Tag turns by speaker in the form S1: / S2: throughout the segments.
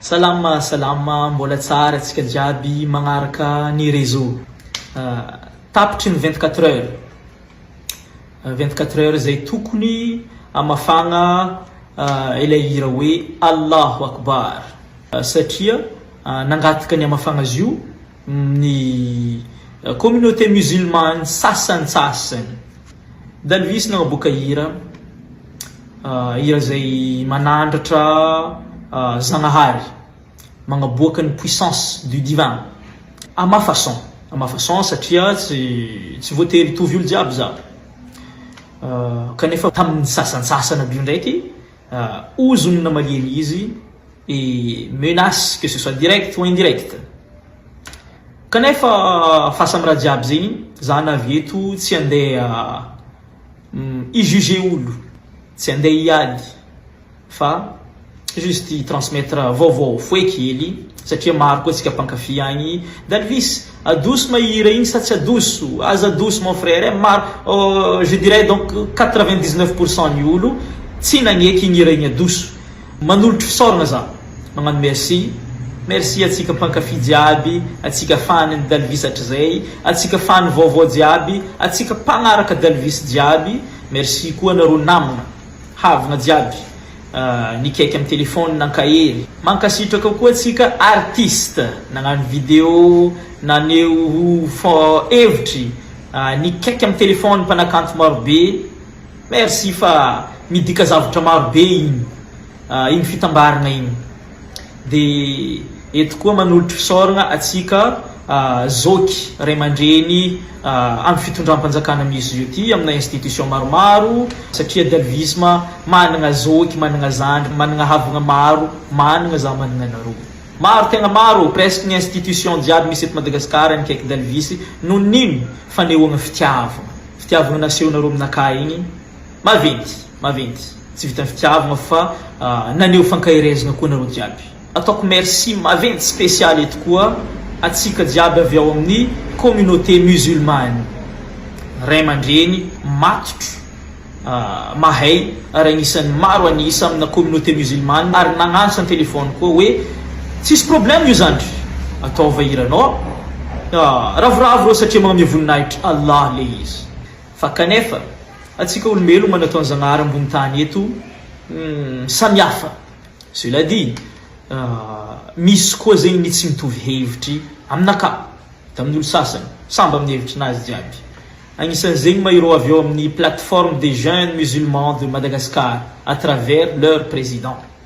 S1: Salama salama mbola tsara tsika jiaby magnaraka ny réseau tapitry ny vingt quatre heures vingt quatre heures zay tokony amafagna ilay hira hoe Allahu Akbar satria nangataka ny amafagna zio ny communauté musulmane sasantsasany Dalvis nagnaboaka hira hira izay manandratra Zagnahary magnaboaka ny puissance du divin à ma façon à ma façon satria tsy tsy voatery hitovy olo jiaby za kanefa tamin'ny sasantsasany aby io ndraiky Ozona malemy izy et menace que ce soit direct ou indirect. Kanefa fasamiraha jiaby zegny za navy eto tsy andeha hi juger olo, tsy andeha hiady fa juste hi transmettre vaovao fohy kely satria maro koa tsika mpankafy agny Dalvis. Adoso ma hira iny sa tsy adoso? Aza adoso mon frère eh! Maro oh je dirais donc quatre vingt dix neuf pour cent ny olo tsy nagneky igny hira igny adoso! Manolotry fisaoragna za! Magnano merci! Merci atsika mpankafy jiaby, atsika fan ny Dalvis hatrizay, atsika fan vaovao jiaby, atsika mpagnaraka Dalvis jiaby! Merci koa anareo namagna! Havana jiaby nikaiky am telephone nankahery. Mankasitraka koa tsika artiste nagnano video naneho hevitry nikaiky am telephone mpanakanto marobe merci fa midika zavatra marobe iny iny fitambarana iny. Dia eto koa manolotra fisaorana antsika zoky ray aman-dreny amin'ny fitondram-panjakana misy zio ity amina institution maromaro satria dalvisme manana zoky manana zandry manana havana maro manana za manana anareo maro tegna maro presque ny institution jiaby misy eto Madagasikara nikaiky dalvisy noho ny fanehoana fitiavana fitiavana nasehonareo aminakahy igny Maventy, maventy. Tsy vitan'ny fitiavagna fa naneho fankaherezagna koa nareo jiaby. Ataoko merci maventy spécial eto koa atsika jiaby avy ao amin'ny communauté musulmane. Ray aman-dreny matotro mahay ary agnisan'ny maro an'isa amina communauté musulmane ary nagnantso an-telephone koa hoe tsisy problème io zandry ataova hiranao. Ravoravo reo satria magname voninahitry Allah le izy. Fa kanefa, antsika olombelogna natao ny Zagnahary ambony tany eto, humm, samihafa. Cela dit, misy koa zegny ny tsy mitovy hevitry aminakà tamin'olo sasany, samby amin'ny hevitrinazy jiaby. Agnisan'izegny ma ireo avy ao amin'ny Plateforme des Jeunes Musulmans de Madagascar à travers leur Président.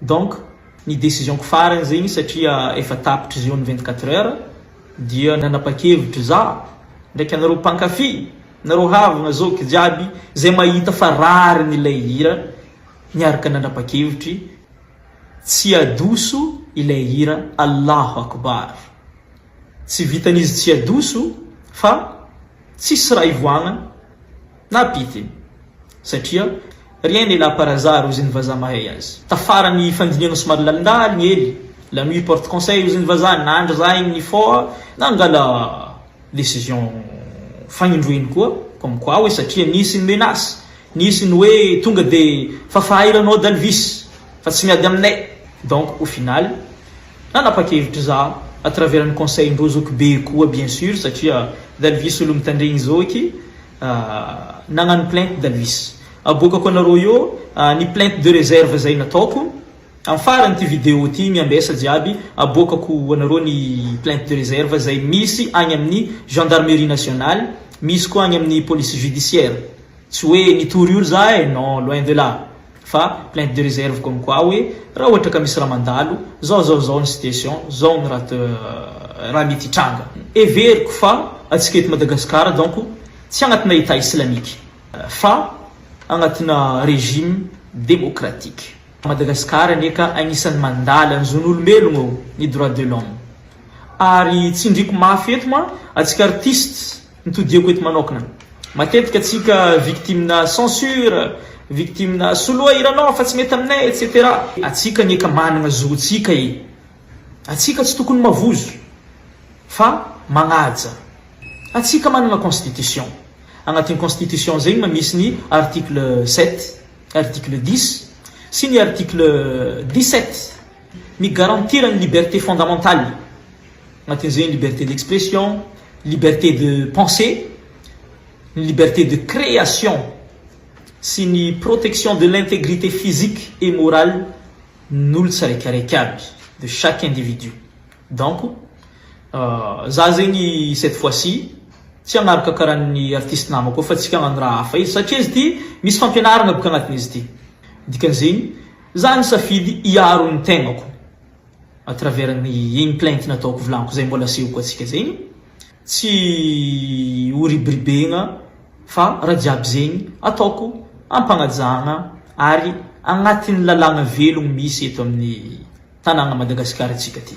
S1: Donc ny decision ko farany zegny satria efa tapitra izy io ny vingt quatre heures dia nanapakevitra za ndraiky anareo mpankafy nareo havagna zoky jiaby zay mahita fa rariny ilay hira niaraka nanapakevitry tsy adoso ilay hira Allahu Akbar. Tsy vitan'izy tsy adoso fa tsisy raha ivoahana na pite satria rien n'est là par hasard hoy izny vazaha mahay azy. Tafara ny fandinihana somary lalindahy ny ely, la nuit porte conseil hoy izny vazaha, nandry zah iny nifoha nangala decision fanindro iny koa comme quoi hoe satria nisy ny menace, nisy ny hoe tonga dia fafaha ilanao dalvis fa tsy miady aminay donc au final, nanapakevitra za à travers ny conseil ndreo zoky be koa bien sur satria dalvis olo mitandregny zoky nagnano plainte dalvis aboakako anareo eo ny plainte de reserve zay nataoko am farany ty video ty miambesa jiaby aboakako ho anareo ny plainte de reserve zay misy agny aminy gendarmerie nationale misy koa agny aminy police judiciaire tsy hoe nitory olo za eh non loin de là. Fa plainte de reserve comme quoi hoe raha ohatra ka misy raha mandalo, zao zao zao ny situation, zao ny raha raha mety hitranga. Heveriko fa atsika eto Madagascar donc tsy agnatina Etat islamique fa agnatina regime démocratique. Madagascar anie ka agnisan'ny mandala ny zon'olombelogno ô, ny droit de l'homme. Ary tsindriako mafy eto ma atsika artistes Ny todiako eto manokna. Matetika tsika victime na censure, victime na soloa hiranao fa tsy mety aminay etc. Atsika anie ka managna zotsika e! Atsika tsy tokony mavozo fa magnaja. Atsika managna constitution. Agnatin'ny constitution zegny ma misy ny article sept, article dix sy ny article dix sept. ny garantir ny liberté fondamentale, anatin'izay ny liberté d'expression, liberté de penser, ny liberté de création sy ny protection de l'intégrité physique et morale n'olo tsiraikaraika aby, de chaque individu. Donc, za zegny cette fois ci tsy hagnaraka karaha ny artiste namako eo fa tsika hagnano raha hafa izy satria izy ity misy fampianaragna boka agnatin'izy ity, dikan'izegny Za nisafidy hiaro ny tegnako à travers ny igny plainte nataoko volagniky zay mbola asehoko atsika zay igny, tsy ho ribiribegna fa raha jiaby zegny ataoko ampanajagna ary agnatin'ny lalàgna velogno misy eto amin'ny tanàgna Madagasikara tsika ty.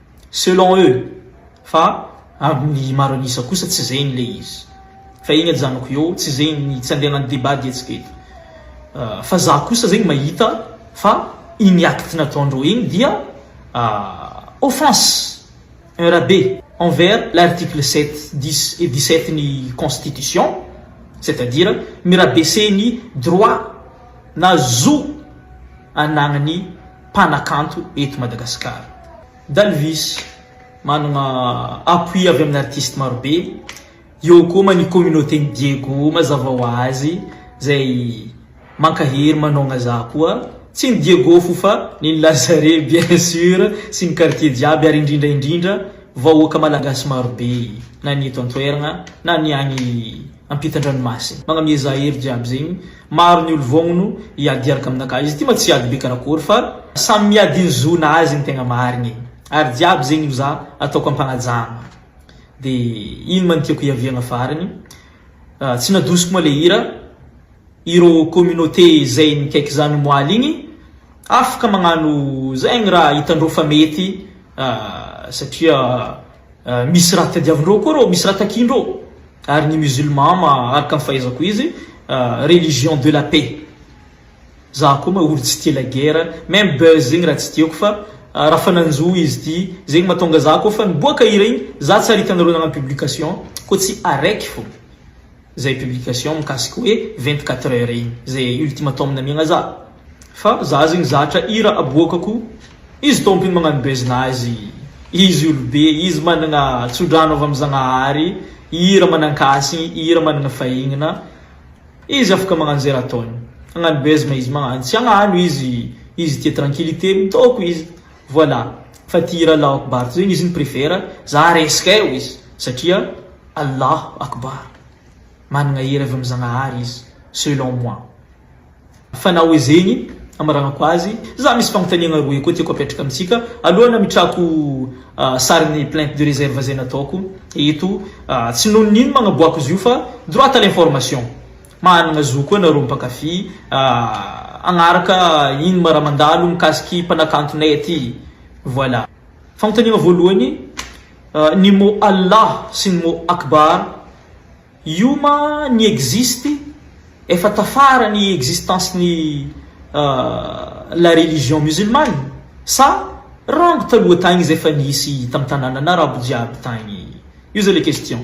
S1: Selon eux, fa amin'ny maro an'isa kosa tsy zegny le izy. Fa igny ajanoko eo, tsy zegny ny tsy andehanan'ny débat diantsika eto. Fa za kosa zegny mahita fa igny acte nataondreo igny dia offense, un rabe envers l'article sept, dix et dix sept ny constitution, c'est à dire mi-rabaisser ny droit na zo anagnan'ny. mpanakanto eto Madagasikara. Dalvis, manana appui avy amin'ny artistes maro be, eo koa ma ny communauté-n'i Diego mazava ho azy izay mankahery manaogna za koa, tsy ny Diego fo fa ny ny Lazare bien sur sy ny quartier jiaby ary indrindra indrindra vahoaka malagasy maro be na ny eto an-toeragna na ny agny ampitan-dranomasina. Magnamia za hery jiaby zegny maro ny olo vognono hiady hiaraka aminakahy izy ty ma tsy hiady be karakory fa samy miady ny zona azy ny tegna marigny e ary jiaby zegny no za ataoko ampanajagna de ino ma ny tiako hiaviagna farany tsy nadosiko ma le hira Ireo communauté zay mikaiky zany moaly igny afaka magnano zegny raha hitandreo fa mety satria misy raha tadiavindreo koa reo, misy raha takiandreo ary ny musulman ma araka ny fahaizako izy religion de la paix za koa ma olo tsy tia la guerre même buzz igny raha tsy tiako fa raha fa nanjo izy ty zegny matonga za koa fa niboaka hira igny za tsy ary hitanareo nagnano publication koa tsy araiky fô. zay publication mikasika hoe vingt quatre heures iny zay ultimatum namiagna za fa za zegny zatra hira aboaka ko izy tompiny magnano buzz nazy izy olobe izy managna tsodrano avy am zagnahary hira manankasigny hira managna fahignana izy afaka magnano zay raha ataony hagnano buzz ma izy magnano tsy hagnano izy izy tia tranquillite mitaoko izy Voilà fa ity hira Allahu Akbar ity zegny izy no préfère za resaka eo izy satria Allahu Akbar managna hery avy amin'ny Zagnahary izy selon moi fa na hoe zegny amaragnako azy za misy fagnontaniagna roe koa tiako apetraka amintsika alohan'ny ametrahako sarin'ny plainte de réserve zay nataoko eto tsy noho ny ino magnaboako izy io fa droit à l'information Manana zo koa nareo mpankafy hagnaraka iny ma raha mandalo mikasiky mpanakantonay aty. Voilà. Fanontaniana voalohany, ny mot Allah sy ny mot Akbar io ma ny existe efa tafara ny existence ny la religion musulmane sa rango taloha tagny zay fa nisy tam tananana arabo jiaby tagny? Io zay le question.